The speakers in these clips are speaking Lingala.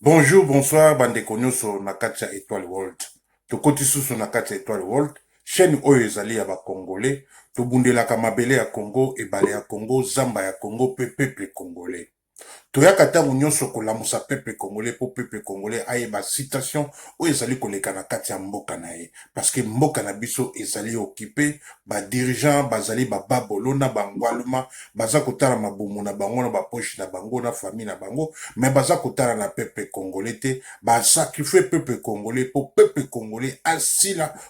Bonjour, bonsoir bandeko nyonso na kati ya Etoile World. Tokoti susu na kati ya Etoile World, chaîne oyo ezali ya bakongole. Tobundelaka mabele ya Congo, ebale ya Congo, zamba ya Congo mpe peuple congolais. Toyaka tango nionso kolamusa peuple congolais po peuple congolais ayeba situation oyo ezali koleka na kati ya mboka na ye parce que mboka na biso ezali occupe ba dirigeants bazali ba babolo na ba ngwaluma baza kotala mabumu na bango na ba poche na bango na famille na bango mais baza kotala na peuple congolais te ba sacrifier peuple congolais po peuple congolais asila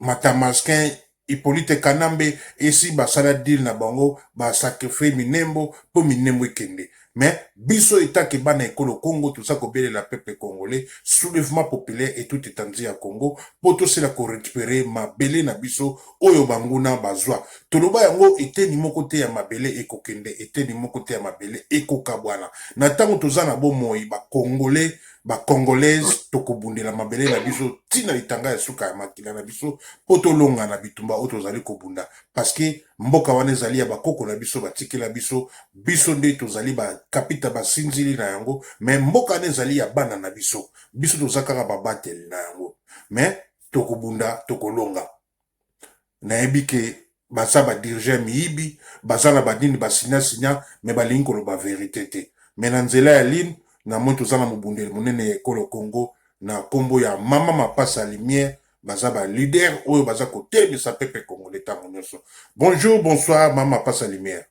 Matamaskin, Hypolite Kanambe esi basala deal na bango ba sacrifier Minembo po Minembo ekende mais biso etant que bana ekolo Congo toza kobelela peuple congolais soulevement populaire et tout etendue ya Congo po tosila ko recuperer mabele na biso oyo banguna bazua toloba yango eteni moko te ya mabele ekokende eteni moko te ya mabele ekokabwana na tango toza na bomoi ba congolais ba congolaise tokobundela mabele na biso ti na litanga ya suka ya makila na biso mpo tolonga na bitumba oyo tozali kobunda parceke mboka wana ezali ya bakoko na biso batikela biso biso nde tozali bakapita basinzili na yango me mboka wana ezali ya bana na biso biso toza kaka babateli na yango me tokobunda tokolonga nayebi ke baza ba dirige miyibi baza na banini ba signa signa me balingi koloba verite te me na nzela ya line na moi toza na mobundeli monene ya ekolo congo na nkombo ya mama mapasa lumière baza ba leader oyo baza kotelisa pepe congolais ntango nyonso bonjour bonsoir mama mapasa lumière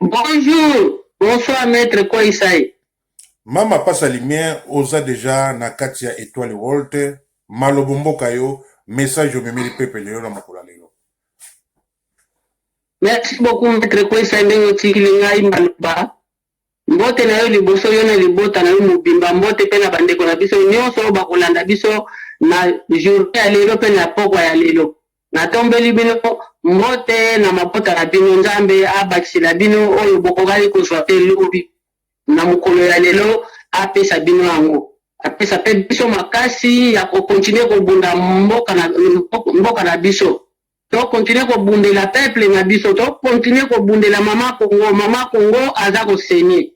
Bonjour, bonsoir maitre Koisai. Mama pasa lumière oza deja na kati ya etoile world malobo mboka yo message omemeli peuple lelo na mokolo lelo. Merci beaucoup maitre Koisai ndenge otikili ngai maloba. Mbote na yo liboso, yo na libota na yo mobimba. Mbote pe na bandeko na biso nyonso oyo bakolanda biso na journee ya lelo pe na pokwa ya lelo. Natombeli bino mbote na mabota na bino. Nzambe abakisela bino oyo bokokaki kozwa te lobi. Na mokolo ya lelo, apesa bino yango. Apesa pe biso makasi ya ko continuer kobunda mboka na, mboka na biso. To continuer ko bundela peuple na biso, to continuer ko bundela maman Kongo, maman Kongo aza ko saigner.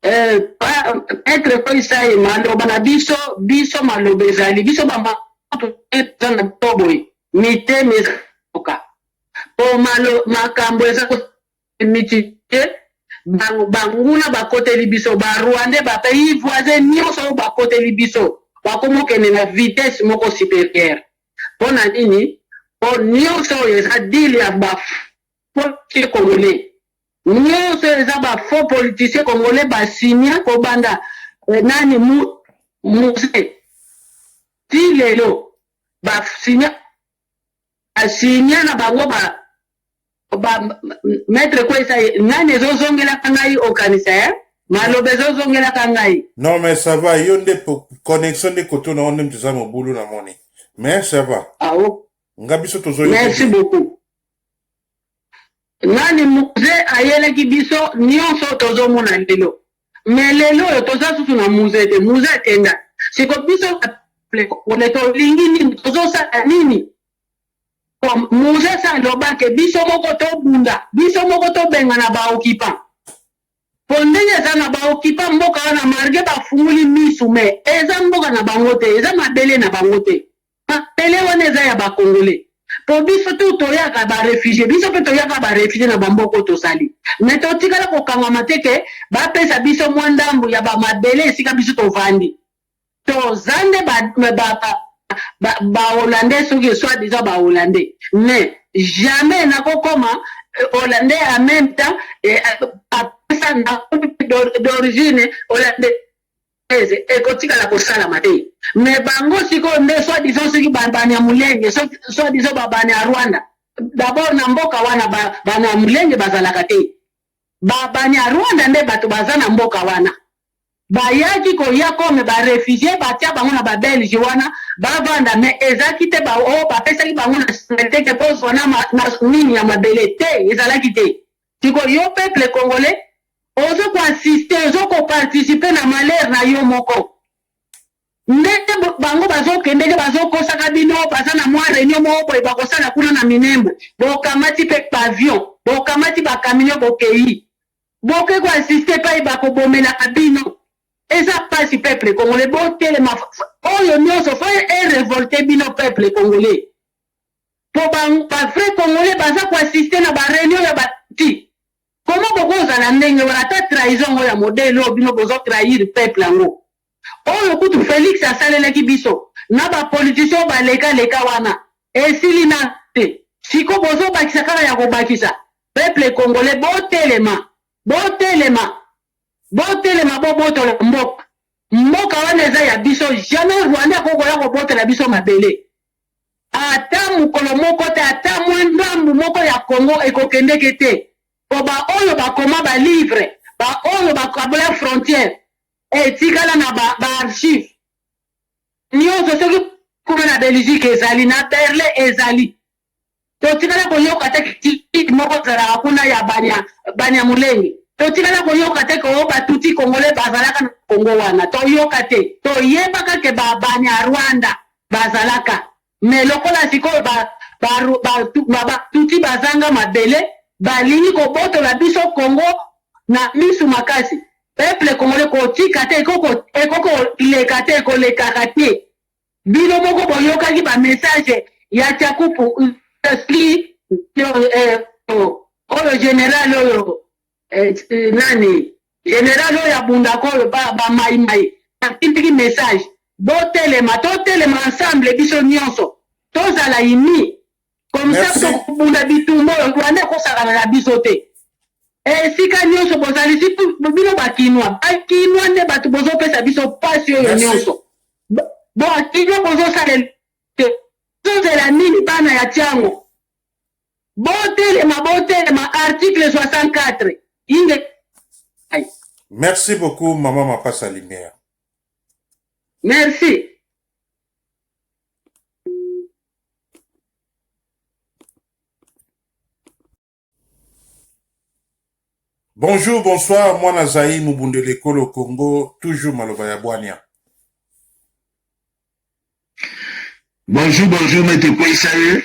Eh, pa, Maître Feuille Saye, maloba na biso, biso maloba ezali, biso ba maman toza na biso boye, mitema eza koka. Po malo, makambo eza ko mitiye, bango banguna bakoteli biso, ba Rwandais, ba pays voisins nyonso oyo bakoteli biso, bakomokende na vitesse moko supérieure. Pona nini? Po nionso oyo eza deal ya ba politiciens congolais. Nionso oyo eza ba faux politiciens congolais ba signa ko banda nani mu muse ti lelo ba signa ba signa na bango ba ba maître kwesa nani ezozongelaka ngai okanisa eh? maloba ezozongelaka ngai non mais ça va yo nde connexion nde koto na yo nde moto eza mobulu na moni mais ça va ah, oh. nga biso tozo merci beaucoup nani muze ayelaki biso nyonso tozomona lelo mais lelo oyo toza susu na muze te muze akenda siko biso ole tolingi nini tozosala nini Comme Moses aloba ke biso moko tobunda, biso moko tobengana ba occupants. Po ndenge eza na ba occupants mboka wana malgre bafungoli misu mais eza mboka na bango te, eza mabele na bango te. Mabele wana eza ya ba Congolais. Po biso tout toyaka ba refugies, biso pe toya kaka ba refugies na ba mboka oyo tozali. Mais totikala kokangama te ke bapesa biso mua ndambu ya ba mabele esika biso tovandi. Toza nde ba ba ba ba ba hollandais soki soit disant ba hollandais mais jamais nako koma hollandais en même temps apesa na d'origine hollandais eze ekotikala kosalama te mais bango sikoyo nde soit disant soki banyamulenge soit disant babane ya rwanda d'abord na mboka wana banyamulenge bazalaka te Ba banyarwanda nde bato baza na mboka wana. Bayaki koya comme ba refugies batia bango na ba belges wana bavanda mais ezalaki te ba oh bapesaki bango nationalite que bozwa na ma, na nini ya mabele te ezalaki te. Siko yo peuple congolais ozo ko assister ozo ko participer na malheur na yo moko. Nde bango bazokende nde bazokosaka bino, baza na mwa reunion moko boye bakosala kuna na Minembwe, bokamati pe pavillon, bokamati ba camions bokeyi, boke ko assister epai bakobomelaka bino, eza pasi peuple congolais botelema, oyo nionso fo e revolter bino peuple congolais, po ba vrais congolais baza ko assister na ba reunion ya ba ti. Comment boko zala ndenge wana ata trahison yango ya modele oyo bino bozo trahir peuple yango oyo kutu Felix asalelaki biso na ba politiciens oyo baleka leka wana esili nanu te sikoyo bozo bakisa kaka ya kobakisa peuple congolais botelema botelema botelema bobotola mboka mboka wana eza ya biso jamais rwandais akoki koya kobotela biso mabele. Ata mokolo moko te, ata mwa ndambu moko ya Congo ekokendeke te po ba oyo bakoma ba livres, ba oyo bakabola frontière etikala na ba ba archives nionso soki kuna na Belgique ezali, na Berlin ezali. Totikala koyoka te critique moko ezalaka kuna ya banya Banyamulenge, totikala koyoka te ke o ba Tutsi Congolais bazalaka na Congo wana, toyoka te. Toyebaka ke ba Banyarwanda bazalaka mais lokola sikoyo ba ba ba ba ba tuti bazanga mabele balingi kobotola biso Congo na misu makasi peuple congolais kotika te ekoko ekoko leka te ekolekaka te bino moko boyokaki ba message ya chakupu sli oyo general oyo Eh nani general oyo abundaka oyo ba ba mai mai atindiki message botelema totelema ensemble biso nyonso tozala imi comme ça Merci. tokobunda bitumba oyo rwanda ekosakana na biso te esika nyonso bozali si bino bakinwa bakinwa nde bato bozopesa biso mpasi oyo Merci. nyonso Bo- bokinwa bozosalela te tozela nini bana ya tiango Botelema botelema article 64 inge ai. Merci beaucoup maman Mapasa Lumière. Merci. Bonjour, bonsoir, mwana Zaï Mubundele Kolo Congo, toujours Maloba ya Bwania. Bonjour, bonjour, maître Kwesaye.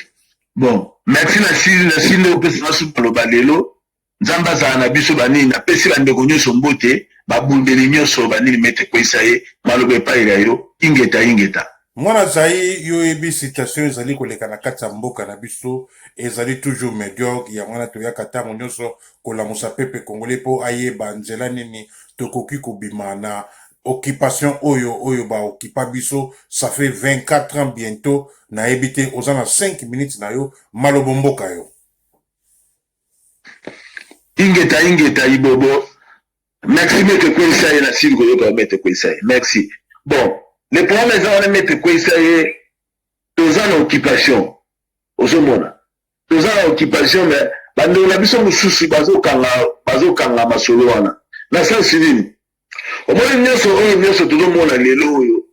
Bon, merci na sili na sili ndeko pesa na suka loba lelo. Nzambe azala na biso banini na pesi ba ndeko nyonso mbote, ba bundeli nyonso banini maître Kwesaye, maloba epai na yo, ingeta ingeta. Mwana Zaïre, yo oyebi situation ezali koleka na kati ya mboka na biso ezali toujours mediocre, yango wana toyaka ntango nyonso kolamusa pepe congolais mpo ayeba nzela nini tokoki kobima na occupation oyo oyo ba occupa biso ça fait 24 ans bientôt nayebi te oza na 5 minutes na yo malobo mboka yo ingeta ingeta ibobo merci mete kweyisa ye nasili koyoka mete kweyisa ye merci bon le problème eza wana mete kweyisa ye toza na occupation ozomona toza na occupation mais bandeko na biso mosusu bazokanga bazokanga masolo wana na sensi nini omoni nyonso oyo nyonso tozomona lelo oyo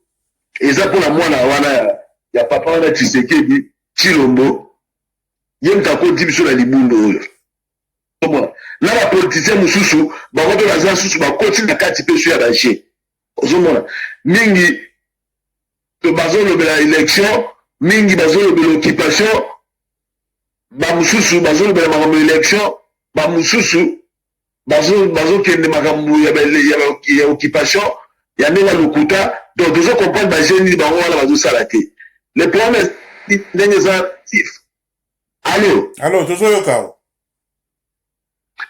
eza mpona mwana wana ya, ya papa wana tisekedi chilombo ye moto akoti biso na libundo oyo omona na bapolitisien mosusu bango mpe baza susu bakoti na kati mpe so ya baje ozomona mingi to bazolobela election mingi bazolobela occupation bamosusu bazolobela makambo election bamosusu bazokende makambo ya occupation ya ndenge ya lokuta donc tozo comprendre baje nini bango wana bazosala te le problème ndenge eza alo alo tozoyoka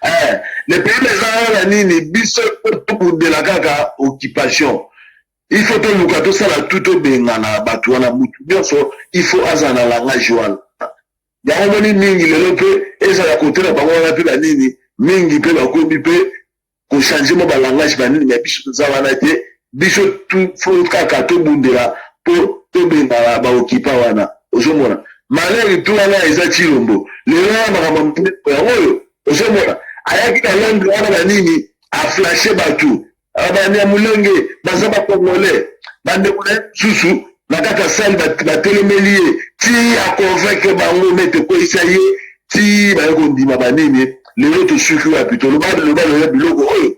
eh, le problème eza wana nini biso tokundela kaka occupation Il faut toluka tosala tout tobengana bato wana mutu nyonso il faut azala na langage wana yango omoni mingi lelo mpe ezala kote na bango wana mpe banini mingi mpe bakomi mpe kochange mwa balangage banini me biso toza wana te biso fo kaka tobundela mpo tobengana baokipa wana ozomona malere tu wana eza cilombo lelo wana makambo yango oyo ozomona ayaki na londre wana banini aflashe bato Ah, banyamulenge baza bakongole bandeko na ye mosusu na kati ya sali batelemeli ye ti aconvaincre bango me tokweyisa ye ti baye kondima banini lelo tosuki wapi toloba loba loya biloko oyo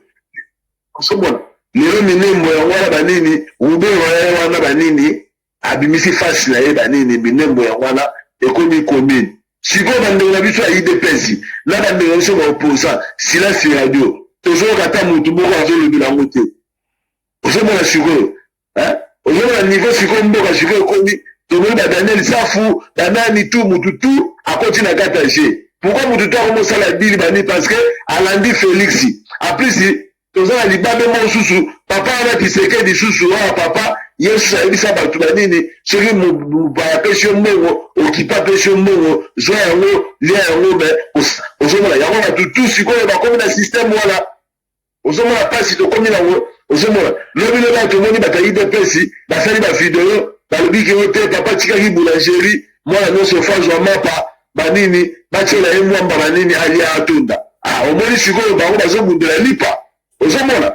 osomona lelo minembo yango wana banini rubero yaye wana banini Abimisi face na ye ba nini minembwe yango wana ekomi commune sikoyo ba ndeko na biso ya udps na ba ndeko na biso ba opposant silence radio tozoyoka ata mutu moko azolobela yango te ozomona sikoyo hein ozomona niveau sikoyo mboka sikoyo ekomi tomoni ba Daniel Safu ba nani tu mutu tu akoti na kata je pourquoi mutu tu akomosala dili bani parce que alandi Felix en plus toza na libabe moko susu papa wana kisekedi susu wana papa yesu ayebisa bato na nini soki mopaya apesi yo mbongo okipa apesi yo mbongo zwa yango lia yango me ozomona yango bato tu sikoyo bakomi na systeme wana ozomona mpasi tokomi nango ozomona lobi lobi ayo tomoni bato ya udps basali bavideo balobi ke yo te papa tikaki boulangerie mwana nyonso fazwa mapa banini batyela ye mwa mbala nini alia atonda ah, omoni sikoyo bango bazobundela lipa ozomona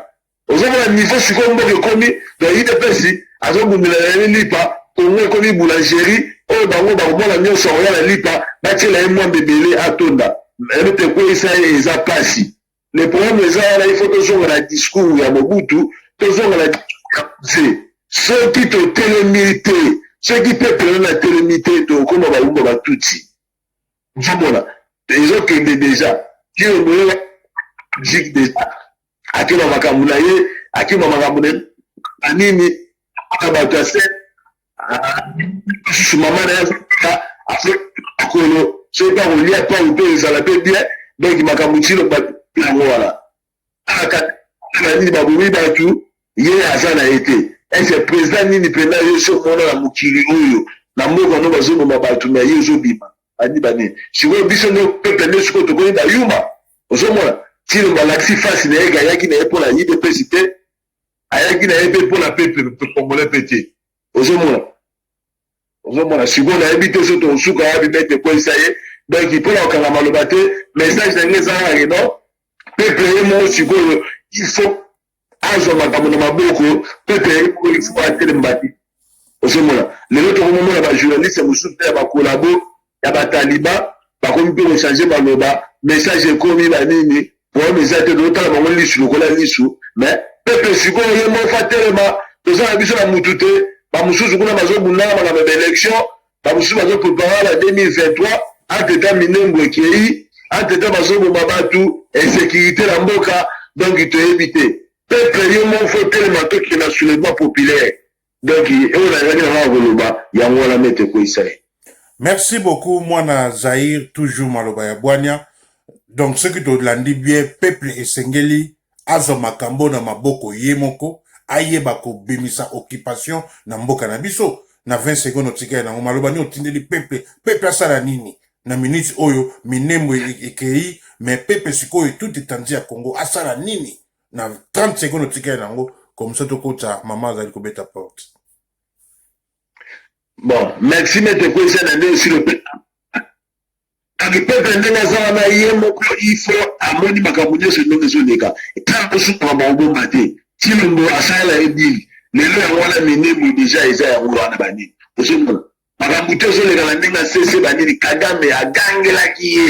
ozomona nivo sikoyo mboka ekomi na udps azobundela na ye lipa kongo ekomi boulangerie oyo bango bakomona nyonso akoya na lipa batyela ye mwa mbebele atonda ebe te ekweisa ye eza mpasi le problème eza wana il faut tozonga na discours ya mobutu tozonga na discours ya mzee soki totelemi te soki peuple wana natelemi te tokoma baumba batutsi ozomona ezokende deja kino moyela jik deja akima makambo na ye akima makambo na nini na bato ya se lisusu mama na ye azalaka azo kolo soki akolia pau to ezala mpe bien donc makambo tino bato yango wana alaka na nini babomi bato ye aza na ye te ese président nini mpenza yo so omona na mokili oyo na mboka no bazoboma bato na ye ozobima bani bani sikoyo biso nde pepe nde sikoyo tokomi bayuma ozomona tino balakisi fasi na ye gayaki na ye mpo na idps te ayaki na ye mpe mpo na peuple congolais mpe te ozomona ozomona sikoyo nayebi te so tokosuka wapi mpe tekweyisa ye donc mpo na kokanga maloba te message na ngai ezalaka ke non peuple ye moko sikoyo il faut azwa makambo na maboko peuple ye moko il faut atelemba te ozomona lelo tokomomona bajournaliste mosusu mpe ya bakolabo ya bataliba bakomi mpe kochange maloba message ekomi banini problème eza te tozotala bango lisu lokola lisu mais pepe sikoyo ye moko atelema toza na biso na mutu te bamosusu kuna bazobundana makambo ya baélection Bamosusu bazo prepare na 2023 anteta minembwe ekei anteta bazoboma batu insecurite na mboka donc toyebi te peuple yo moko fo telema tokende na soulèvement populaire donc oyo nazalaki na ngai koloba yango wana mete ekweyisa ye merci beaucoup mwana zaire toujours maloba ya bwania donc soki tolandi bien peuple esengeli azwa makambo na maboko ye moko ayeba kobimisa occupation na mboka na biso na 20 secondes otikali nango maloba nini otindeli peuple peuple asala nini na minute oyo minembo ekei mais peuple sikoyo tout etandi ya Congo asala nini na 30 secondes otikali nango comme ça tokota mama azali kobeta porte Bon, merci maître Kwesana nde osilo Akipeta ndenge aza wana ye moko ifo amoni makambo nyonso ndenge ezoleka ntango kosuka maobomba te tilombo asalela ye dili lelo yango wana minemo deja eza yango wana banini ozomona makambo te ezoleka na ndenge asese banini kagame agangelaki ye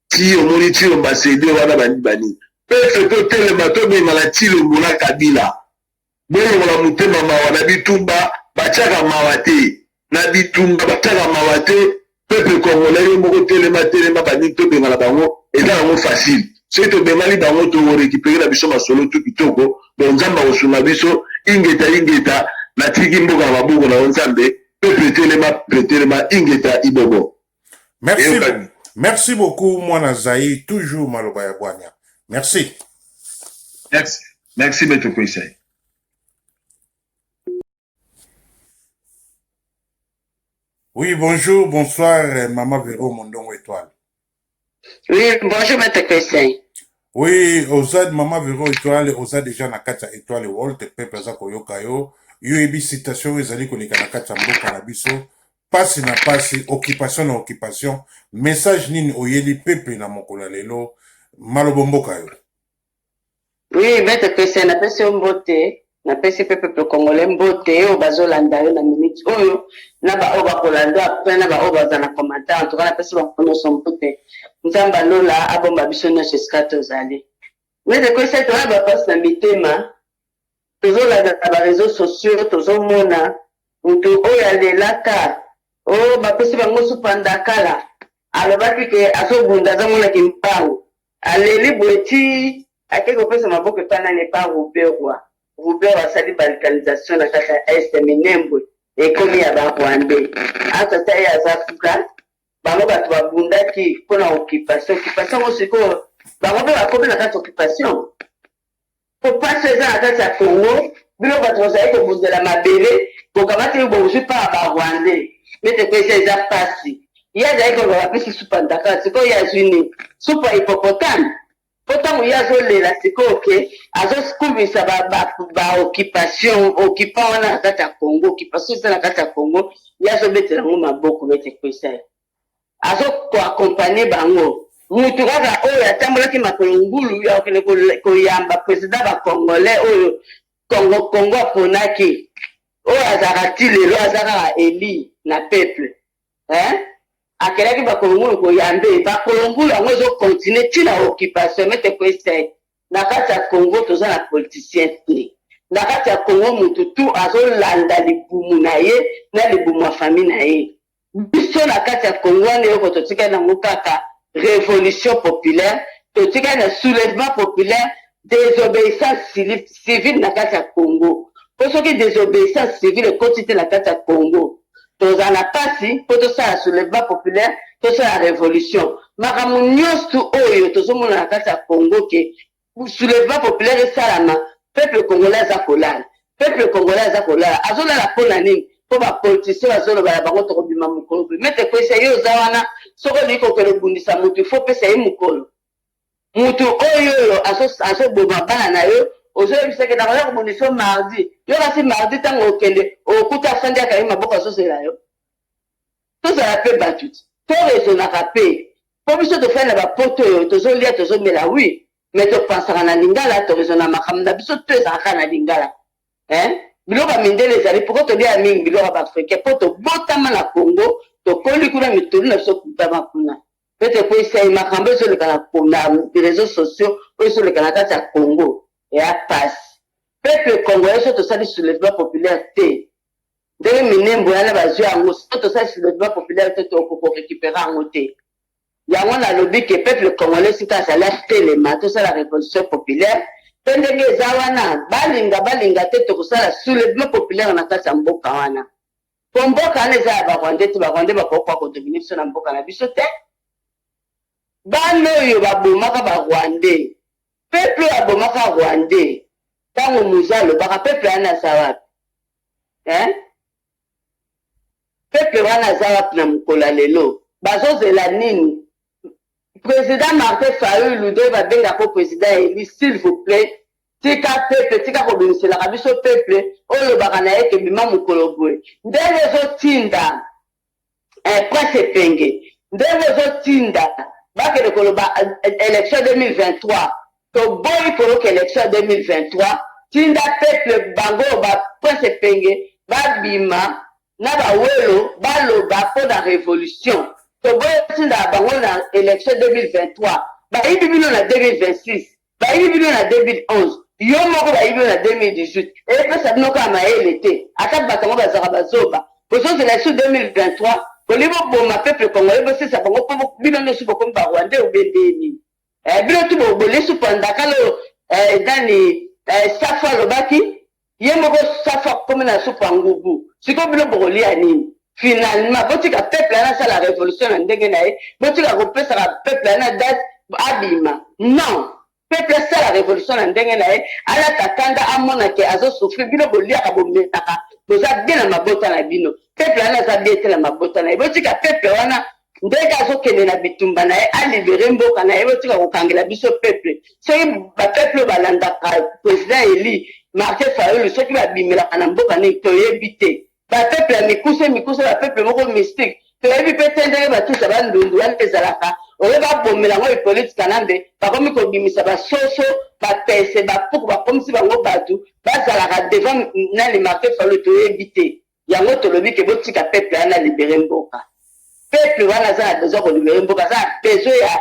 ti omoni tilombo asede wana banini banini pefe totelema tobengana tilombo na kabila Bolongola motema mawa na bitumba batiaka mawa te na bitumba batiaka mawa te peuple congolais yo moko telema telema baningi tobengana bango eza yango facile soki tobengani bango tokorekipere na biso masolo tu kitoko don nzambe akosunga biso ingeta ingeta natiki mboka na maboko na yo nzambe peuple telema peuple telema ingeta ibobo Merci, merci beaucoup, Mwana Zaï, toujours Maloba ya Bwanya. Merci. Merci. Merci, Maître Koisei. Oui, bonjour, bonsoir, euh, Maman Véro Mondongo Étoile. Oui, bonjour, Maître Koisei. Oui, Ozad, Maman Véro Étoile, Ozad déjà na kati Étoile Walt, peuple aza koyoka yo. Yo ebi citation ezali koleka na kati ya mboka na biso. Pasi na pasi, occupation na occupation, message nini oyeli peuple na mokolo ya lelo? Malobo mboka yo. Oui, Maître Christian, napesi yo mbote, napesi mpe peuple congolais mbote oyo bazolanda yo na minute oyo na baoyo bakolanda après na baoyo baza na commentaire en tout cas napesi bango nyonso mbote nzambe alola abomba biso nyonso esika tozali Maître Christian toyeba mpasi na mitema Tozolanda na ba reseaux sociaux tozomona mutu oyo alelaka oh bapesi bango supa ndakala alobaki ke azobunda aza mwana kimbangu aleli boye ti ake kopesa maboko epa nani epa ruberwa ruberwa asali balkanisation na kati ya est minembwe ekomi ya ba rwandais ata ata ye aza fuka bango bato babundaki mpona occupation occupation yango sikoyo bango mpe bakomi na kati occupation Po pasi eza na kati ya Congo, bino batu bozali kobundela mabele bokamati oyo bozui pa ba rwandais nde topesa eza pasi. Ye azali koloba bapesi supa ndakala sikoyo ye azui nini? Supa ya hippopotame? Po tango ye azo lela sikoyo ke azo kumisa ba ba occupation occupants wana na kati ya Congo, occupation eza na kati ya Congo ye azo betela yango maboko maitre Kwesay. azo ko accompagne bango mutu kaka oyo atambolaki makolo ngulu ya kokende koyamba president ba congolais oyo congo congo aponaki oyo azalaka ti lelo aza kaka eli na peuple hein akelaki bakolongulu koyambe bakolongulu yango ezokontinue ti na occupation mete koeste na kati ya congo toza na politicien te na kati ya congo motu tu azolanda libumu na ye na libumu ya fami na ye Biso na kati ya Congo wana eloko totikali nango kaka revolution populaire, totikali na soulevement populaire, desobeissance civile na kati ya Congo. Po soki desobeissance civile ekoti te na kati ya Congo, tokozala na pasi po tosala soulevement populaire, tosala revolution. Makambo nionstu oyo tozomona na kati ya Congo ke Pour soulevement populaire esalama peuple congolais aza kolala peuple congolais aza kolala azo lala pona nini po ba politiciens bazo loba na bango toko bima mukolo boye maitre kwese yo oza wana soki olingi kokende obundisa mutu il faut opesa ye mukolo mutu oyo oyo azo azo boma bana na yo ozo yebisa ke nakoya kobundisa yo mardi yo kasi mardi tango okende okuta afandi akangi maboko azo zela yo Tozala pe batu to raisonaka pe po biso tofandi na ba poto oyo tozo lia tozo mela oui mais to pansaka na lingala to raisonaka makambu na biso tout ezalaka kaka na lingala hein biloko ya mindele ezali pourquoi toliaka mingi biloko ya ba africain po tobotama na congo tokoli kuna mitoli na biso ekutama kuna pe tokweyisa ye makambu ezoleka na na reseaux sociaux oyo ezoleka na kati ya congo eya pasi peuple congolais so tosali soulèvement populaire te Ndenge minembwe wana bazwi yango, soki tosalisi logement populaire te, toko ko recuperer yango te. Yango nalobi que peuple congolais esika azali atelema, tosala revolution populaire, mpe ndenge eza wana, balinga balinga te, tokosala soulevement populaire na kati ya mboka wana. Mpo mboka wana eza ya ba rwandais te, ba rwandais bakoki koya ko dominer biso na mboka na biso te. Bana oyo babomaka ba rwandais, peuple oyo abomaka rwandais, tango Muza alobaka, peuple wana aza wapi? hein peuple wana aza wapi na mokolo ya lelo bazozela nini president martin fayulu nde babenga ko president eli s'il vous plait tika peuple tika kobimiselaka biso peuple olobaka na ye ke bima mokolo boye ndenge ezotinda Eh prince epenge ndenge ozo tinda bakende koloba election 2023 toboyi koyoka election 2023 tinda peuple bango ba prince epenge babima na ba welo baloba pona revolution toboyi otinda bango na election 2023 bayibi bino na 2026 Bayibi bino na 2011 yo moko bayibi yo na 2018 epesa bino kaka mayele te ata batu yango bazalaka bazoba bozozela lisusu 2023 bolingi boboma peuple congolais bosesa bango po bino nioso bokomi ba rwandais ou bien ndenge nini eh bino tout boliesu panda kala oyo eh nani eh safu alobaki Ye moko safu akomi na supu ya ngubu sikoyo bino bokolia nini? Finalement botika peuple wana asala revolution na ndenge na ye botika kopesaka peuple wana date abima non peuple asala revolution na ndenge na ye alata kanda amona ke azo souffrir bino boliaka bomelaka boza bien na mabota na bino peuple wana aza bien te na mabota na ye botika peuple wana ndege azokende na bitumba na ye alibere mboka na ye botika kokangela biso peuple soki bapeuple oyo balandaka président eli martin fayulu soki babimelaka na mboka nini toyebi te bapeuple ya mikuse mikuse bapeuple moko mystique toyebi mpe te ndenge batuta bandundu wana ezalaka oyo babomela yango hippolite kanambe bakomi kobimisa basoso bapese bapuku bakomisi bango bato bazalaka devant nani martin fayulu toyebi te Yango tolobi ke botika peuple wana a libere mboka. Peuple wana aza na besoin ya ko libere mboka, aza na besoin ya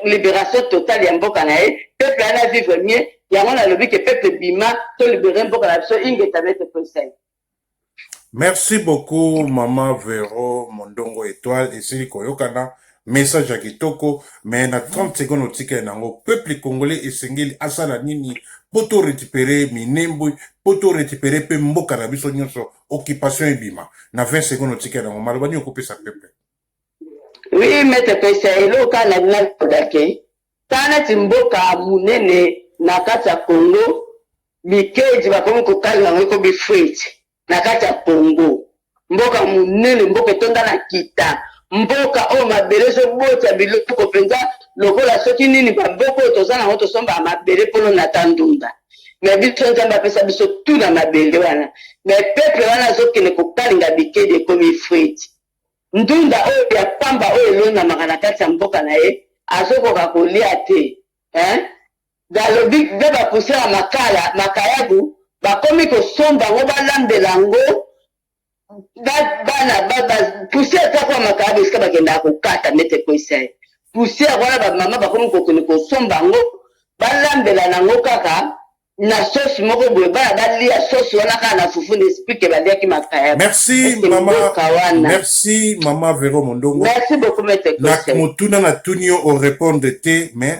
liberation totale ya mboka na ye, peuple wana a vivre mieux, yango nalobi ke peuple bima to libere mboka na biso, ingeta maitre Conseil. Merci beaucoup maman Vero Mondongo Etoile, esili koyokana message ya kitoko mais na 30 seconde otikali na yango peuple congolais esengeli asala nini mpo to récupere minembwe mpo to récupere mpe mboka na biso nyonso occupation ebima na 20 seconde otikali na yango maloba nini okopesa peuple oui mete pesa eloko kaka na bina lodake ta neti mboka monene na kati ya congo bikeji bakomi kokalinga yango ekomi fruite na kati ya congo mboka monene mboka etonda na kita mboka oyo mabele ezobota biloko mpenza lokola soki nini bamboka oyo toza nango tosombaka mabele mpono na ta ndunda me biso nzambe apesa biso tu na mabele wana me peple wana azokende kokalinga bikedi ekomi frite ndunda oyo ya pamba oyo elonamaka na kati ya mboka na ye azokoka kolia te hein? Balobi be ba pousse ya makala makayabu bakomi kosomba yango balambela yango ba bana ba ba pousse ata kwa makayabu esika bakendaka kokata ndeti ekweyisa ye pousse yango wana bamama bakomi kokende kosomba yango balambela na yango kaka na sauce moko boye bana balia sauce wana kaka na fufu na esprit ke baliaki makaya merci mama wana merci mama vero mondongo merci beaucoup maître na motuna na tuni yo o répondre te mais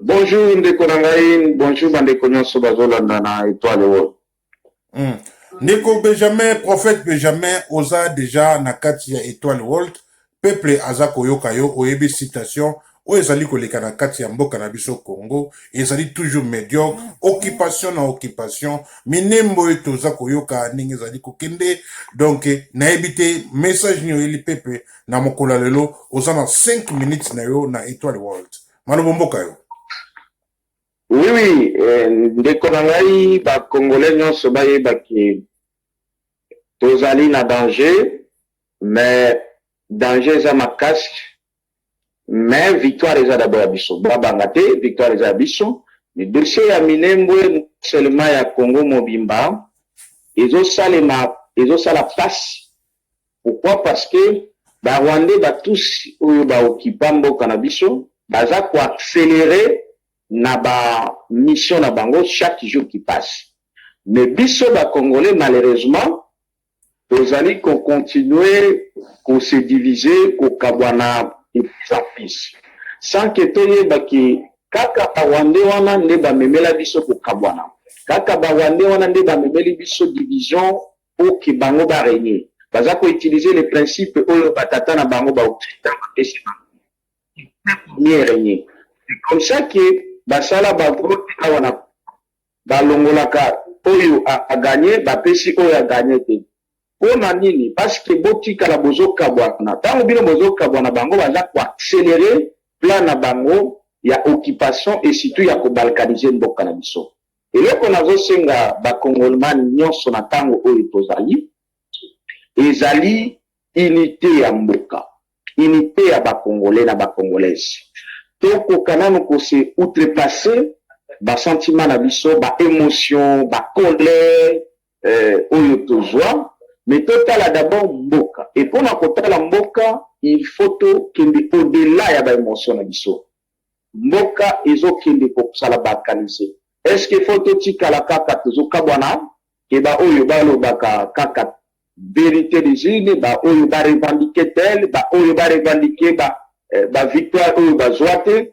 Bonjour ndeko na ngai, bonjour bandeko nyonso bazolanda na Etoile World. Mm. Ndeko Benjamin, prophète Benjamin, oza deja na kati ya Etoile World. Peuple aza koyoka yo, oyebi citation oyo ezali koleka na kati ya mboka na biso Congo, ezali toujours mediocre, occupation na occupation, minembo oyo toza koyoka ndenge ezali kokende. Donc nayebi te message nini oyeli peuple na mokolo ya lelo oza na 5 minutes na yo na etoile world malobo mboka yo oui oui eh, ndeko na ngai bacongolais nyonso bayeba ke tozali na danger mais danger eza makasi mais victoire eza dabord ya biso babanga te victoire eza ya biso dossier ya minembwe seulement ya congo mobimba ezosalema ezosala pasi Pourquoi parce que ba rwandais ba tusi oyo ba occupa mboka na biso baza ko accelere na ba mission na bango chaque jour qui passe mais biso ba congolais malheureusement tozali ko continue ko se divise ko kabwana de plus en plus sans que toyeba que kaka ba rwandais wana nde ba memela biso ko kabwana kaka ba rwandais wana nde ba memeli biso division pour que bango ba regner baza ko utiliser les principes oyo ba tata na bango ba occident ba pesi bango pour mieux regner c'est comme ça que ba sala ba vote awa na ba longolaka oyo a gagner ba pesi oyo a gagner te pona nini parce que botikala bozo kabwana tango bino bozo kabwana bango baza ko accelerer plan na bango ya occupation et surtout ya ko balkaniser mboka na biso Eloko nazo senga ba congolman nionso na tango oyo tozali ezali unite ya mboka, unite ya ba congolais na ba congolaise. Tokoka nanu ko se outrepasser ba sentiments na biso, ba emotions, ba colères oyo tozua mais totala d'abord mboka et pona kotala mboka il faut tokende au delà ya ba emotions na biso. Mboka ezo kende ko zala balkanise est ce que faut to tikala kaka tozo kabwana que ba oyo ba lobaka kaka verite des urnes ba oyo ba revendiquer tel ba oyo ba revendiquer ba, eh, ba victoire oyo ba zwa te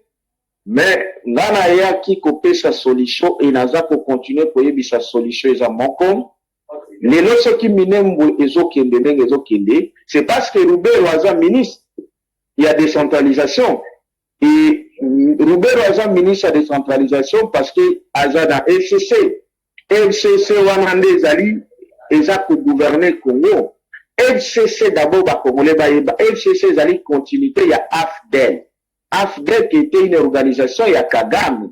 mais nga na yaki ko pesa solution et naza ko continuer ko yebisa solution eza moko lelo soki minembwe ezo kende ndenge ezo kende c'est parce que Ruberwa aza ministre ya decentralisation et Ruberwa aza ministre ya decentralisation parce que aza na FCC. FCC wana nde ezali eza ko gouverner Congo. FCC d'abord ba Congolais bayeba FCC ezali continuité ya AFDL. AFDL qui était une organisation ya Kagame.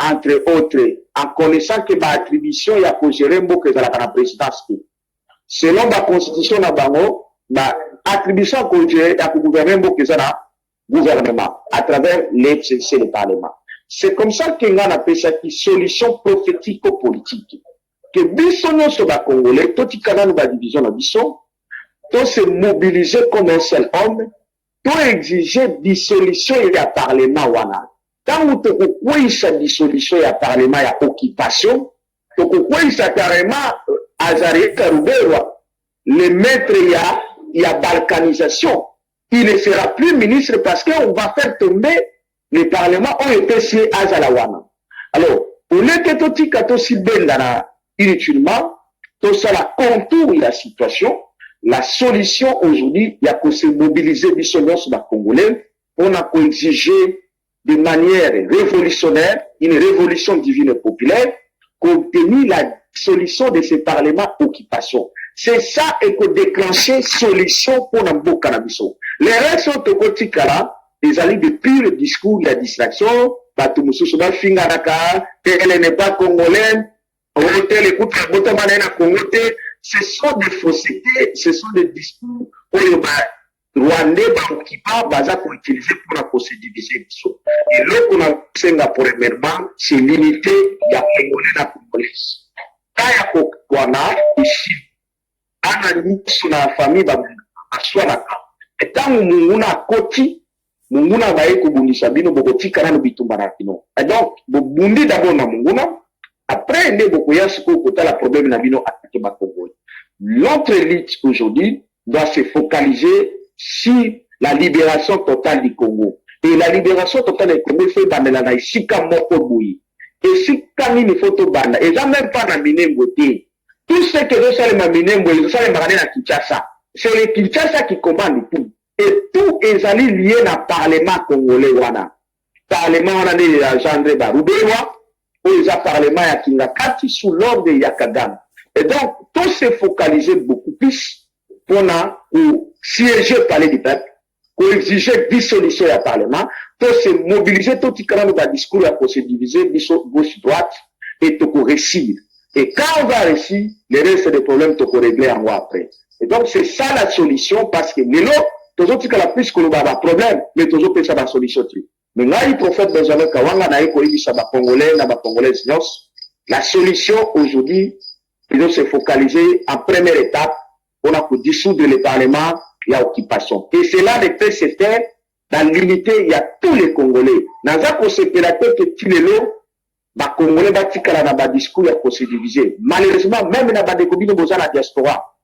entre autres, en connaissant que ba attributions ya ko gerer mboka ezalaka na presidence te. Selon ba constitutions na bango, ba attributions ya ko gerer, ya ko gouverner mboka eza na gouvernement à travers le CNC. le parlement. C'est comme ça que ngai napesaki solution prophetico-politique que biso nionso ba Congolais totika nanu ba divisions na biso, to se mobiliser comme un seul homme, to exiger dissolution ya parlement wana. Tango tokokweyisa dissolution ya parlement ya occupation, tokokweyisa carrement Azarias Ruberwa, le maitre ya ya balkanisation. Il ne sera plus ministre parce que on va faire tomber le parlement oyo epesi ye azala wana. Alors, au lieu que totika tosi bendana inutilement, tosala contour ya situation, la solution aujourd'hui ya ko se mobiliser biso nionso ba congolais pona ko exiger de maniere revolutionnaire une revolution divine et populaire ko obtenir la dissolution de ce parlement occupation c'est ça eko declencher solution pona mboka na biso le reste oyo toko tikala ezali de pure discours ya distraction batu mususu ba finganaka que elle n'est pas congolaine Otel kutu abotama na ye na Congo te, ce sont des faussetés, ce sont des discours oyo ba Rwandais ba occupants baza ko utiliser pour ko se diviser biso. Eloko na senga premièrement, c'est l'unité ya Congolais na Congolaise. Kaya kokwana ici Bana nionso na famille ba swanaka mais tangu munguna akoti munguna abaye kobundisa bino bokotika nanu bitumba na bino et donc bobundi d'abord na munguna après nde bokoya sikoyo kotala problème na bino attaque ba congolais notre lutte aujourd'hui doit se focaliser sur la liberation totale du Congo et la liberation totale du Congo il faut ebandela na esika moko boye esika nini faut tobanda eza meme pas na Minembwe te Tout ce que ezo salema Minembwe ezo salemaka nde na Kinshasa. C'est le Kinshasa qui commande tout et tout ezali lie na parlement congolais wana. Parlement wana nde e engendre ba Ruberwa oyo eza parlement ya Kingakati sous l'ordre ya Kagame. Et donc to se focaliser beaucoup plus pona ko sieger palais du peuple ko exiger dissolution ya parlement to se mobiliser totika nanu ba discours ya ko se diviser biso gauche droite et toko reussir et quand on va reussir le reste des problèmes toko regler yango après et donc c'est ça la solution parce que lelo tozotikala plus koloba ba problèmes mais tozopesa ba solution te. Mais ngai prophète Benjamin Kawanga naye koyebisa ba congolais na ba congolaises nionso la solution aujourd'hui ezo se focaliser en première etape pona ko dissoudre le parlement ya occupation et cela ne peut se faire dans l'unite ya tous les congolais. Naza kosepela te que ti lelo ba congolais batikala na ba discours ya ko se diviser malheureusement meme na bandeko bino boza na diaspora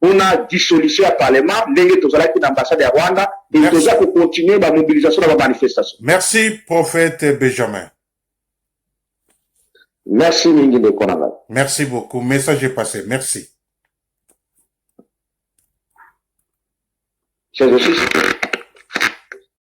pona dissolution ya parlement ndenge tozalaki na ambassade ya Rwanda et toza ko continuer ba mobilisation na ba manifestation. Merci prophète Benjamin. Merci mingi ndeko na ngai. Merci beaucoup. Message est passé. Merci. C'est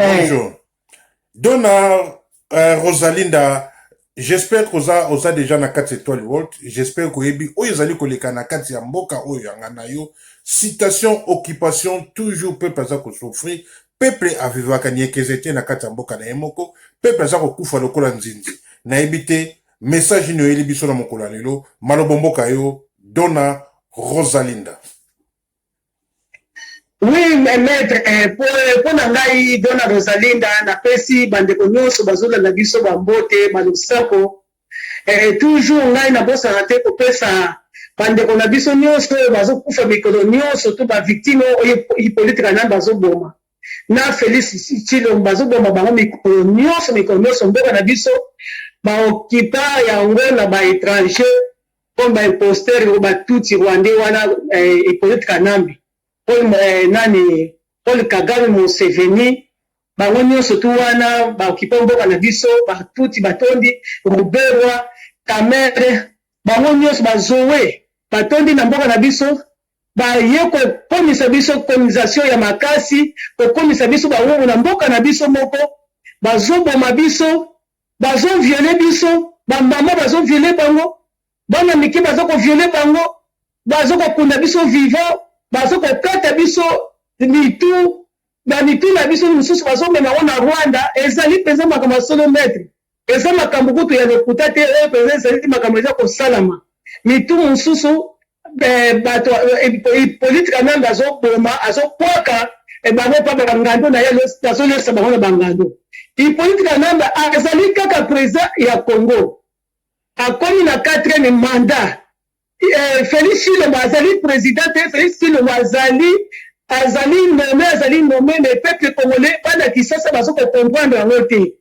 Eh. Bonjour. Dona euh, Rosalinda, j'espère que oza, oza déjà na kati étoile world. J'espère que ebi oyo ezali koleka na kati ya mboka oyo yanga na yo. Citation, occupation, toujours peuple aza ko souffrir. Peuple avivaka niekeze te na kati ya mboka na ye moko. Peuple aza kokufa lokola nzinzi. Nayebi te message nini oyeli biso na mokolo ya lelo. Malobo mboka yo, Dona Rosalinda. Oui, mais maître, eh, po, eh, po na ngai Dona Rosalinda napesi bandeko nyonso bazolanda biso bambote balosako eh, toujours ngai nabosana te kopesa bandeko na biso nyonso oyo bazokufa mikolo nyonso to bavictime oyo Hippolyte Kanambe bazoboma na Felix Tshilombo bazoboma bango mikolo nyonso mikolo nyonso mboka na biso baokipa yango na baétranger Comme ba imposteurs ngo ba tutsi rwandais wana eh, Hyppolite Kanambe, Paul eh, nani Paul Kagame, Museveni, bango nyonso tu wana ba occupant mboka na biso, ba tutsi batondi Ruberwa, Kamerhe, bango nyonso ba Zoe batondi na mboka na biso baye kokomisa biso colonisation ya makasi, kokomisa biso bawumbu na mboka na biso moko, bazoboma biso Bazo viole biso ba maman bazo viole bango bana mike baza ko viole bango bazo ko kunda biso vivant bazo ko kata biso mitu ba mitu na biso misusu bazo mema ngo na Rwanda ezali penza makambo ya solo maitre eza makambo kutu ya lokuta te oyo penza ezali makambo eza ko salama mitu mususu Eh, bato eh, Hippolyte Kananga azoboma azobwaka eh, bango mpa bangando na ye azolesa bango na bangando. Hippolyte Kananga azali kaka president ya Congo, akomi na quatrième mandat. Eh, Felix Tshilombo azali president te, Felix Tshilombo azali azali nome azali nome, le peuple congolais bana Kisasa bazo ko comprendre yango te.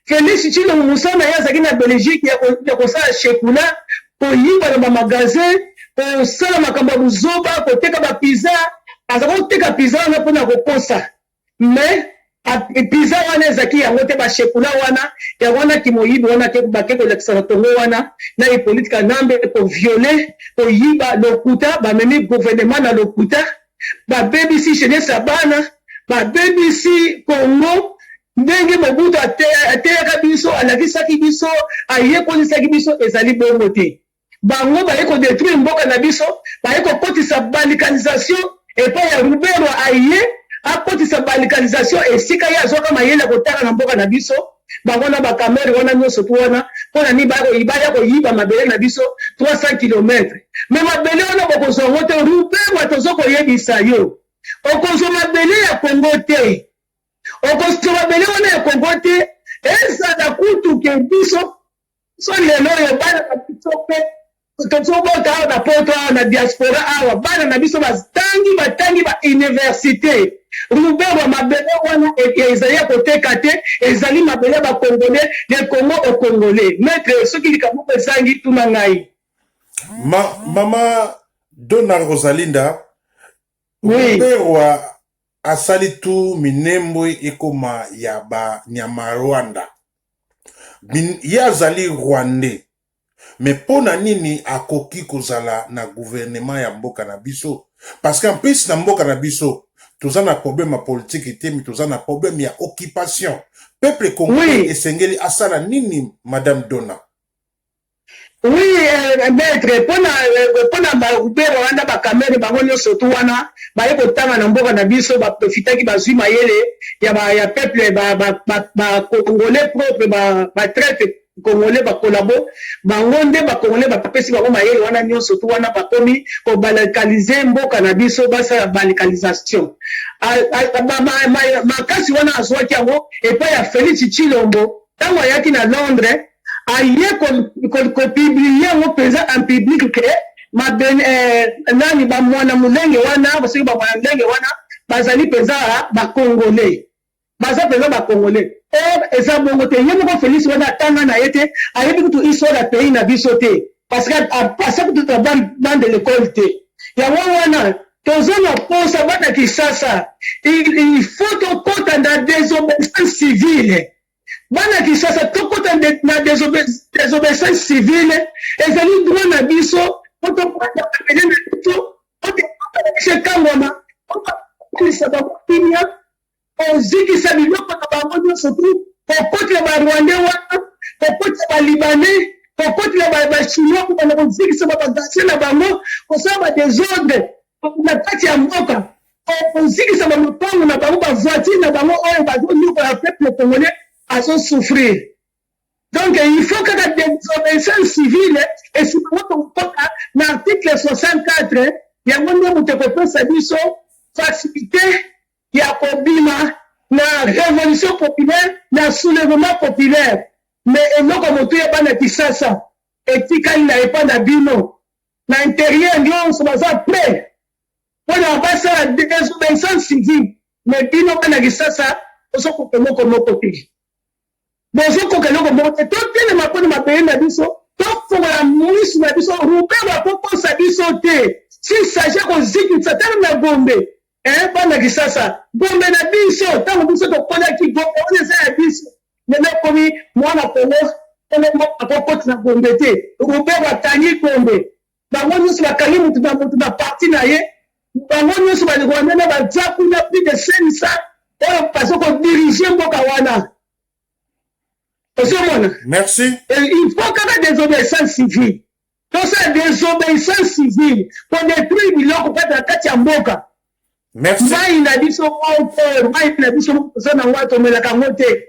Felix Tshilombo mosala na ye azalaki na Belgique ya kosala shekula, koyiba na ba magasin, kosala makambo ya buzoba, koteka ba pizza, aza koteka pizza wana mpo na kokosa mais pizza wana ezaki yango te bashekula wana yango wana kimoyibi wana bake kolakisa na tongo wana na hippolite kanambe koviole koyiba lokuta bamemi gouvernement na lokuta babebisi jeunesse ya bana babebisi congo ndenge mobutu ateyaka biso alakisaki biso ayekolisaki biso ezali bongo te bango baye kodetruire mboka na biso baye kokotisa balikanisation epai ya ruberwa aye akotisa balikanisation esika ye azwaka mayele ya kotala na mboka na biso Bango na ba kamerhe wana nionso tout wana pona nini baya koyibaya koyiba mabele na biso 300 kilomètre mais mabele wana bokozua ngo te ruberwa tozo koyebisa yo okozua mabele ya congo te okosua mabele wana ya congo te ezala kutu ke biso biso lelo oyo bana na biso mpe tozobota awa na poto awa na diaspora awa bana na biso batangi batangi bauniversité ruberwa mabele wana e, e, ezali ya koteka te ezali mabele ya bakongole le congo au congolais maitre soki likambo moko ezangi tuna ngai Ma, mama dona rosalinda oui. ruberwa asali tout minembwe ekoma ya ba nyamarwanda min ye azali rwandais mais pona nini akoki kozala na gouvernement ya mboka na biso parce qu'en plus na mboka na biso toza na problème ya politique te mais toza na problème ya occupation peuple congolais oui. esengeli asala nini madame Dona Oui euh, maître pona euh, pona ba rubero wana ba kamere bango nyonso tu wana baye kotanga na mboka na biso ba profitaki bazui mayele ya ba ya peuple ba ba ba, ba congolais propre ba ba traite congolais ba collabo bango nde ba congolais ba pesi bango mayele wana nyonso tu wana bakomi ko balkaniser mboka na biso basala balkanisation makasi wana azuaki yango epai ya Felix Tshilombo Tango ayaki na Londres, aye ko, ko, ko publier yango penza en public que ma ben, eh, nani ba mwana mulenge wana, soki ba mwana mulenge wana bazali penza ba Congolais. Baza penza ba Congolais. Or eza bongo te. Ye moko Felix wana atanga na ye te, ayebi kutu histoire ya pays na biso te. Parce que asa kutu na bande de l'école te. Yango wana Toza na posa bana kisasa il faut tokota na desobesance civile bana kisasa tokota na desobesance civile ezali droit na biso po tokota pene na biso po tokota na biso ekangama po tokolisa bango kimia Kozikisa biloko na bango nionso tout, kokotela ba rwandais wana, kokotela ba libanais, kokotela ba ba chinois kobanda kozikisa ba bagages na bango, kosala ba desordre na kati ya mboka, kozikisa ba lopango na bango, ba voitures na bango oyo bazo niokola peuple congolais azo souffrir. Donc il faut kaka desobeyissance civile et sima ngo tokokota na article 64 yango nde moto ekopesa biso facilite ya kobima na revolution populaire na soulevement populaire mais eloko ya motuya bana kisasa etikali na epa na bino na interieur nionso baza pret pona basala desobeyissance civique mais bino bana kisasa ozo koka eloko moko te bozokoka eloko moko te totelema mpo na mabele na biso tofongola misu na biso rubero akokosa biso te s'il s'agit ya kozikisa tala na gombe eh, bana kisasa gombe na biso ntango biso tokolaki gombe wana eza ya biso lelo ekomi mwana kongo kongo akokoti na gombe te rubero akangi gombe Bango nionso bakangi mutu na mutu na parti na ye, bango nionso ba Rwandais na baza kuna plus de 500 oyo bazo ko diriger mboka wana. Ozomona? Merci. Et il faut kaka desobeyissance civile. Tosala desobeyissance civile pour détruire biloko kati na kati ya mboka. Merci. Mai na biso moko, mai na biso moko toza na ngo tomelaka ngo te.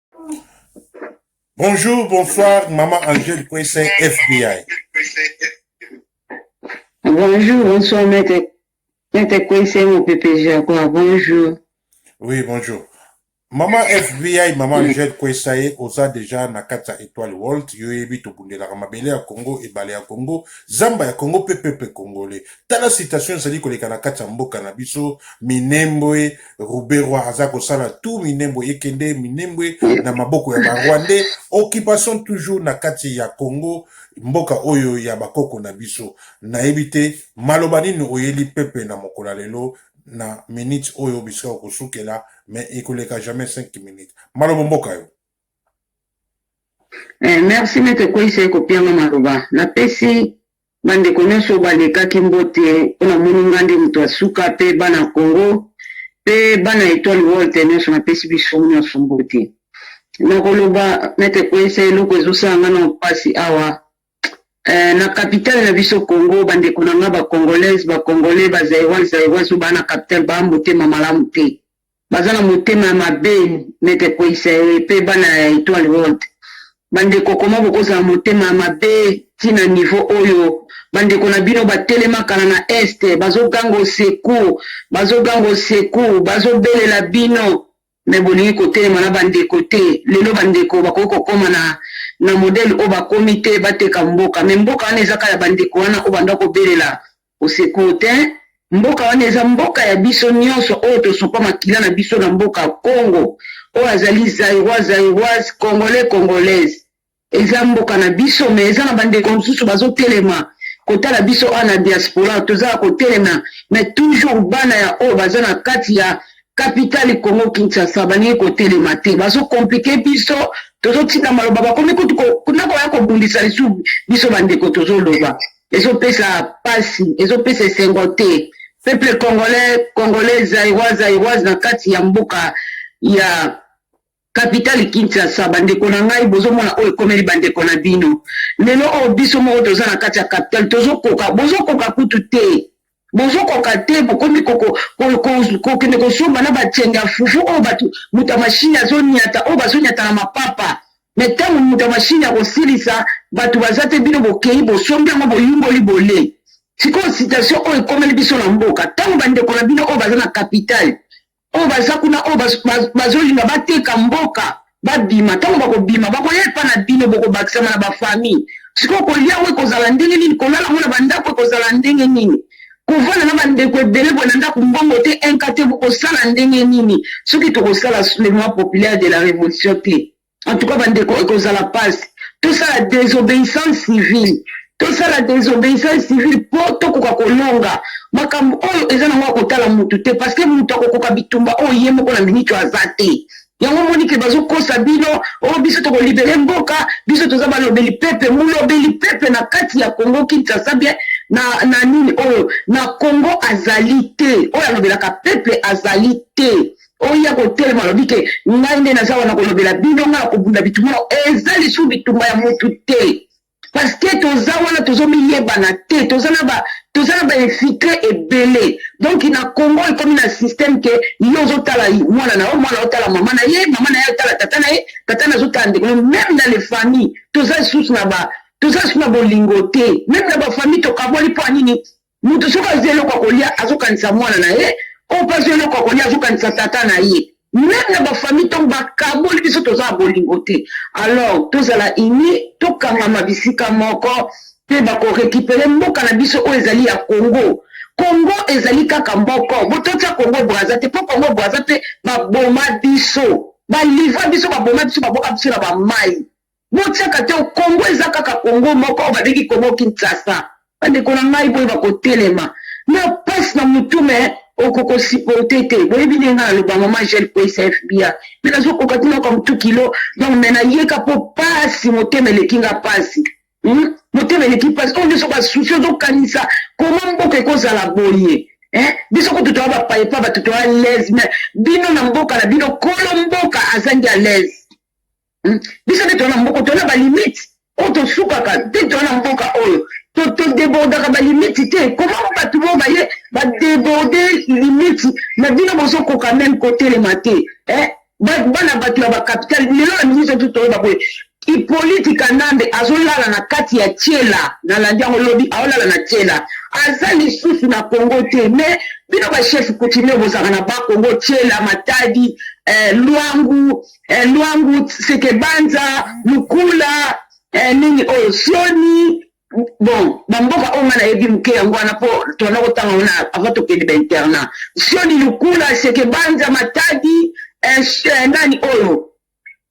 Bonjour, bonsoir, maman Angèle Kwese, FBI. Bonjour, bonsoir, maître, maître Kwese, mon pépé Jaguar, bonjour. Oui, bonjour. Maman FBI, maman Angèle Kwesaye, oza déjà na kati ya Etoile World, yo yebi tobundelaka mabele ya Congo, ebale ya Congo, zamba ya Congo pe peuple congolais. Tala situation ezali koleka na kati ya mboka na biso, Minembwe, Ruberwa aza kosala tout Minembwe ekende Minembwe na maboko ya ba Rwandais occupation toujours na kati ya Congo mboka oyo ya bakoko na biso nayebi te maloba nini oyeli pepe na mokola lelo na minute oyo bisika okosukela mais ekoleka jamais 5 minutes maloba mboka yo eh, merci mete koisa ekopianga maloba napesi Ba ndeko nionso ba lekaki mbote po na moni nga nde moto ya suka pe bana Congo pe bana etoile Walter nionso na pesi biso nionso mbote. Nako loba maitre Kweysa eloko ezo sala nga nao pasi awa eh na capital na biso Congo ba ndeko na nga ba congolaise ba congolais ba zairoise zairoise oyo ba na capital ba motema malamu te. Baza na motema ya mabe neti ekweyisa ye pe bana ya etoile world ba ndeko comment bokozala motema ya mabe ti na niveau oyo ba ndeko na bino ba telema kala na est bazo ganga au secour bazo ganga au secour bazo belela bino mais bolingi kotelema na ba ndeko te lelo ba ndeko bakoki kokoma na na modèle oyo bakomi te bateka mboka mais mboka wana eza kaka ya ba ndeko wana oyo banda kobelela Au secours tein, mboka wana eza mboka ya biso nionso oyo tosopa makila na biso na mboka Congo, oyo azali Zairois, Zairoise, Congolais, Congolaise. Eza mboka na biso mais eza na ba ndeko mosusu bazo telema kotala biso awa na diaspora toza ya kotelema mais toujours bana ya oyo baza na kati ya capitale Congo Kinshasa balingi kotelema te bazo compliquer biso tozo tina maloba bakomi kutu na koya kobundisa lisusu biso ba ndeko tozo loba ezopesa pasi ezopesa esengo te peuple congolais congolais zairois zairoise na kati ya mboka ya kapitale kinshasa bandeko na ngai bozomona oyo ekomeli bandeko na bino lelo oyo biso moko toza na kati ya kapitale tozokoka bozokoka kutu te Bozo koka te bokomi kokende kosomba na ba tienge ya fufu oyo batu moto ya machine azo niata oyo bazo niata na mapapa mais tango moto ya machine akosilisa batu baza te bino bokeyi bosombi yango boyungoli bole sikoyo situation oyo ekomeli biso na mboka tango bandeko na bino oyo baza na capital oyo baza kuna oyo bazolinga bateka mboka babima ntango bakobima bakoya epa na bino bokobakisama na bafamille sikoyo kolia yango ekozala ndenge nini kolala yango na bandako ekozala ndenge nini kovanda na bandeko ebele boye na ndako mbongo te inka te bokosala ndenge nini soki tokosala soulèvement populaire de la révolution te En tout cas, bandeko, ekozala pasi. Tosala désobéissance civile. Tosala désobéissance civile po tokoka kolonga. Makambo oyo eza nango ya kotala mutu te parce que mutu akokoka bitumba oyo ye moko na minute aza te. Yango moni ke bazokosa bino, oh biso tokolibere mboka, biso toza balobeli pepe, molobeli pepe na kati ya Congo Kinshasa bien na, na nini oyo na Congo azali te, oyo alobelaka pepe azali te. oya kotelema alobi ke ngai nde naza wana kolobela bino ngai akobunda bitumba nao eza lisusu bitumba ya mutu te parceke toza wana tozomiyebana te toza na ba toza na bainfiltre ebele donk na congo ekomi na systeme ke yo ozotala mwana na yo mwana otala mama na ye mama na ye otala tata na ye tata na azotala ndeko na meme na le famille toza lisusu na ba toza lisusu na bolingo te meme na bafamille tokaboli mpo ya nini Moto soki azwi eloko ya kolia azokanisa mwana na ye, oyo mpe azwi eloko ya kolia azokanisa tata na ye. Meme na bafamille ntango bakaboli biso toza na bolingo te. Alors tozala unis, tokangama bisika moko mpe bako recuperer mboka na biso oyo ezali ya Congo. Congo ezali kaka moko, bo totia Congo Brazza te mpo Congo Brazza mpe baboma biso, ba livra biso, baboma biso, baboka biso na ba mayi. Botiaka te Congo eza kaka Congo moko oyo babengi Congo Kinshasa. Bandeko na ngai boyeba kotelema. Na pasi na mutu me okoko supporte te. Boyebi ndenge nga naloba maman Gel Kweysa FBI. Me nazokoka te nayoka mutu kilo donc me nayeka po pasi motema eleki nga pasi. Hum? Motema eleki pasi. Oyo nde soki ba souci ozokanisa koma mboka ekozala boye. Eh? Biso kutu toya ba paye pa bato toya lez me bino na mboka na bino kolo mboka azangi alez. Hmm? biso nde toana mboka toana balimite oyo tosukaka te toana mboka oyo todebordaka balimite te koma bato bo baye badeborde limite na bino bozokoka meme kotelema te eh? bana bato ya bacapital lelo na ministre tu toyeba boye ipoliti kanambe azolala na kati ya tiela na landi yango lobi aolala na tiela aza lisusu na congo te me bino bachef coutumier bozalaka na bakongo tiela matadi eh, lwangu eh, lwangu sekebanza mukula eh, nini oyo oh, sioni bon bamboka oyo ngai nayebi moke yango wana mpo tona kotanga wana avant tokende bainternat sioni lukula sekebanza matadi eh, eh, nani oyo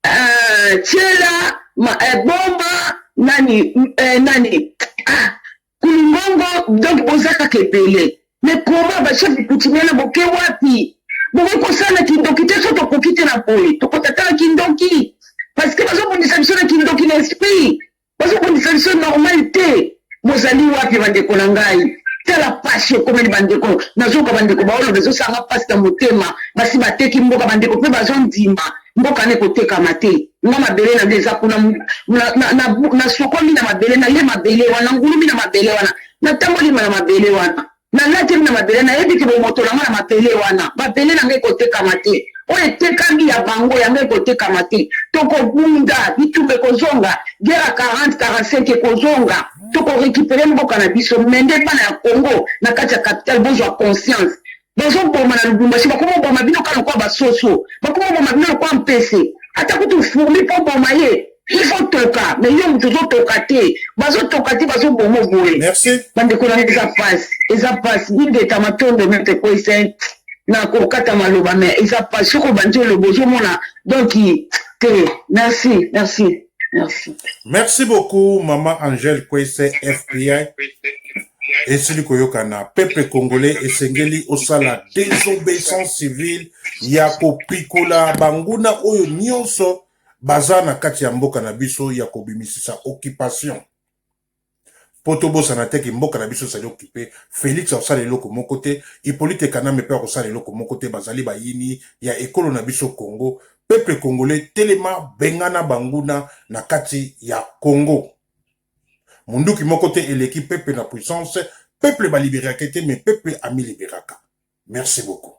eh, tiela ma, eh, bomba nani eh, nani ah, Kulumbongo donc boza kaka ebele mais comment ba chef coutumier na boke wapi bokoki kosala na kindoki te so tokoki te na boye tokota tala kindoki parce que bazobundisa biso na kindoki na esprit bazobundisa biso normal te bozali wapi bandeko na ngai tala pasi ekomeli bandeko nazoka bandeko baoloba ezosanga pasi na motema basi bateki mboka bandeko mpe bazondima mboka ne kotekama te nga mabele na nga eza kuna nasokomi na mabele naye mabele wana ngulumi na mabele wana natamboli na mabele wana nalatemi na mabele nayebi ke bomoto na nga na mabele wana mabele na nga ekotekama te oyo etekami ya bango yango ekotekama te tokobunda bitumba ekozonga gera 40 45 ekozonga tokorekipere mboka na biso mende bana ya congo na kati ya capital bozwa conscience bazoboma na lubumbashi bakoma oboma bino ka lokola basoso bakoma oboma bino lokola mpese ata kutu furmi mpo oboma ye ifo toka me yo moto ozotoka te bazotoka te bazobomo boye bandeko na eza pasi eza pasi ingeta matondo mete koise na kokata maloba me eza pasi soko obandi oloba ozomona donk te merci merci Merci. Merci beaucoup maman Angèle Kwese FPI. esili koyokana peuple congolais esengeli osala désobéissance civile ya kopikola banguna oyo nyonso baza na kati ya mboka na biso ya kobimisisa occupation Po tobosana te que mboka na biso ezali occupe, Felix akosala eloko moko te, Hypolite Kanambe pe akosala eloko moko te, bazali bayini ya ekolo na biso Congo, peuple congolais telema bengana banguna na kati ya Congo. Munduki moko te eleki peuple na puissance, peuple ba liberake te mais peuple ami liberaka. Merci beaucoup.